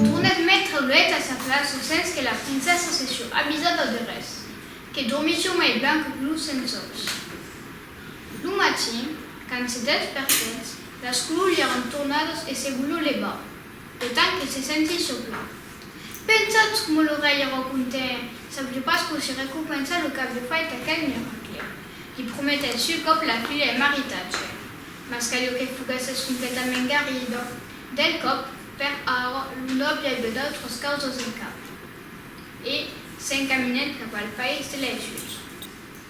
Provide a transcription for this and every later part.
Tornèt mètre luèt a sa plaça sens que la princessa se sió avisada de res, que dormisió mai ben que lo sensòus. Lo matin, quand se despertèt, las colors li èran tornadas e se volió levar, E tant que se senti soplar. Pensatz coma lo rei e rò conten, sabliu pas quau se recompensa lo qu'aviu fait aquel miracle. Li prometèt sul còp la filha e maritatge. Mas caliu que foguèsses completament guerida. Del còp, per ara, lo nòble aviá d'autras causas en cap. E s'encaminèt cap al país de lei julhs.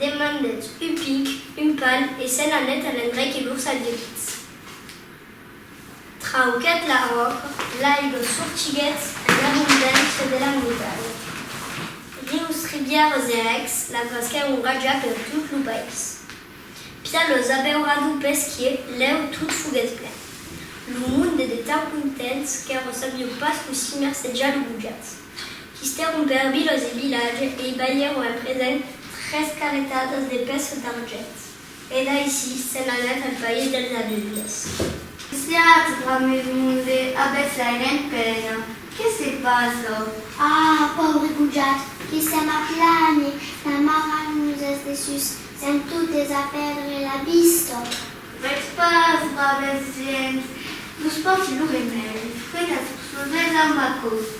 Demandèt un pic, un pal, e se'n anèt a l'endrech que lors aguelits. Trauquèt la ròca, l'aiga sortiguèt en abondància de la muntanya. Rius, ribièras e rècs la frasquèron rajar per tot lo país. Pia los abeuradu pesquier lèu tot foguèt plen. Lo monde de tan contents qu'èra sabiu pas cossí mercejar lo gojat. Histèron per vilòs e vilatge e i balhèron en present tres carretadas de pèças d'argent. E d'aicí se'n anèt al país dels aveugles. Siatz grand mes monde, avètz l'airent pena, que se passa? Ah! pauri gojat, que sèm a plane, la mara nos es dessus, sèm totes a pèrdre la vista. Vètz pas, braves gents, vos porti lo remèdi, fregatz vos los dets amb aquò's.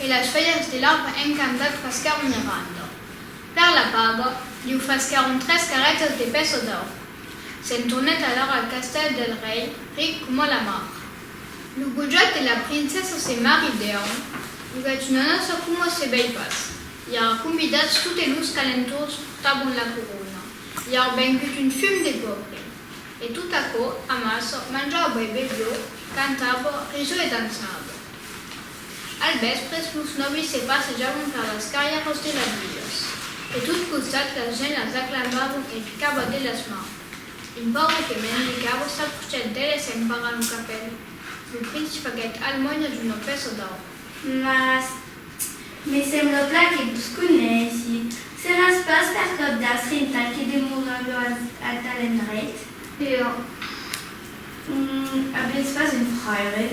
E las felhas de l'arbre encantat fasquèron Miranda. Per la paga, liu fasquèron tres carretas de pèça d'aur. Se'n tornèt alara al castèl del rei, ric coma la mar. Lo gojat e la princessa se maridèron, vivètz una nòça coma se vei pas, i ara convidats totes los calentors portavan la corona. I a vengut un fum de gorri. E tot aquò amassa, manjava e bevió, cantava, risó e dançava. Al vèspres, los nòvis se passejavan per las carrièras de las vilas. De tot costat la gent las aclamavan e picava de las mans. Un paure que mendicava s'aprocièt d'eles e emparant lo capèl, lo prince faguèt almòinas una pèça d'aur. Mas Me sembla plan que vos coneissi. Seràs pas per cap d'astrintal que demora luènh a tal endreit? Io? Nn, avètz pas un fraire?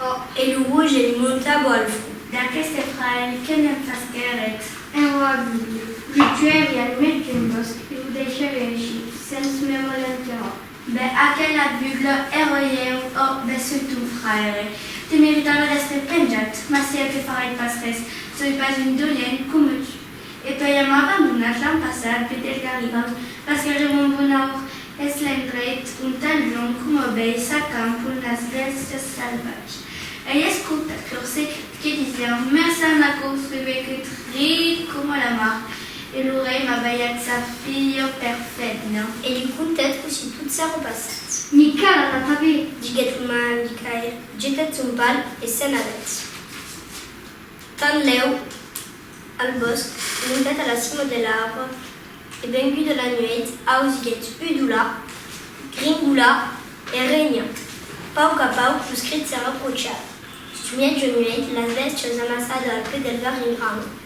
Oh! E lo roge li montava al front. D'aqueste fraire, que me'n fasquèretz? Enròa Vilio, lo tuèri al mièg d'un bòsc e lo deishèri aicí, sens me voler interròmpre. Be aquela bugla èroi eu, ò, be soi tu, fraire. Te meritava d'èstre penjat, mas sieu que farai pas res, soi pas un dolent, coma tu. E per ja m'abandonat l'an passat, be del Garibald, pas que reu mon bon aur, es l'endreit ont tan luònh coma bèi s'acampan las bèstias salvatge. Ai escoltat lor secret, que disián, Merçan aquò soi be que tret coma la mar, E lo rei va balhar sa filha per Fedna e li contèt cossí tot s'èra passat. Micaël a pas vé, diguèt lo mal a Micaël, jetèt son pal e se'n anèt. Tanlèu, al bòsc, montèt a la cima de l'arbre e venguda la nuèit ausiguèt udolar, gringolar e renhar. Pauc a pauc los crits s'èra prochats. Sus mièja nuèit, las bèstias amassada al pè del varrinhal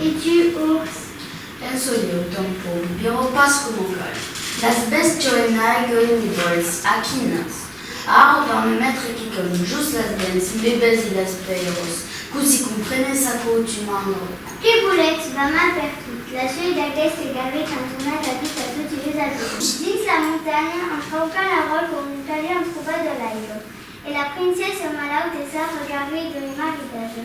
E tu, urs? En çò ieu, tanpon, viro pas coma cal. Las bestioles n'aiguen ni vòls, a quinas. A arrobar me mètre quicòm, jos las dents, me besi las pèiros, cosi comprenes aquò, tu mandro? Que volètz, vam a pertot. La suèit d'aqueste gavet qu'entorna la vita a toti les avièrs. Dins la montanha, en traucar la ròl com un talhon trobat a l'aiga. E la princessa malauta es a regarrei d'un maridatge.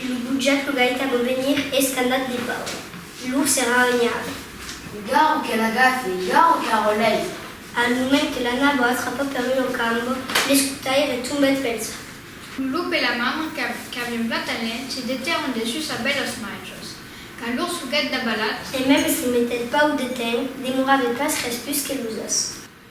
E lo butjat lo gaita vò venir escandat de pau. Lur serà un llarg. Garro que l'agafe, garro que arrolèi. Al moment que l'ana vò atrapar per un ocambo, l'escutaire tombèt pel sac. Lo lop e la mamra qu'avián blat al lènh se detèron dessus a bèlos machos. Quand lur suguèt dabalat. E mèm se metèt pau de temps, demorave pas res pus que los as.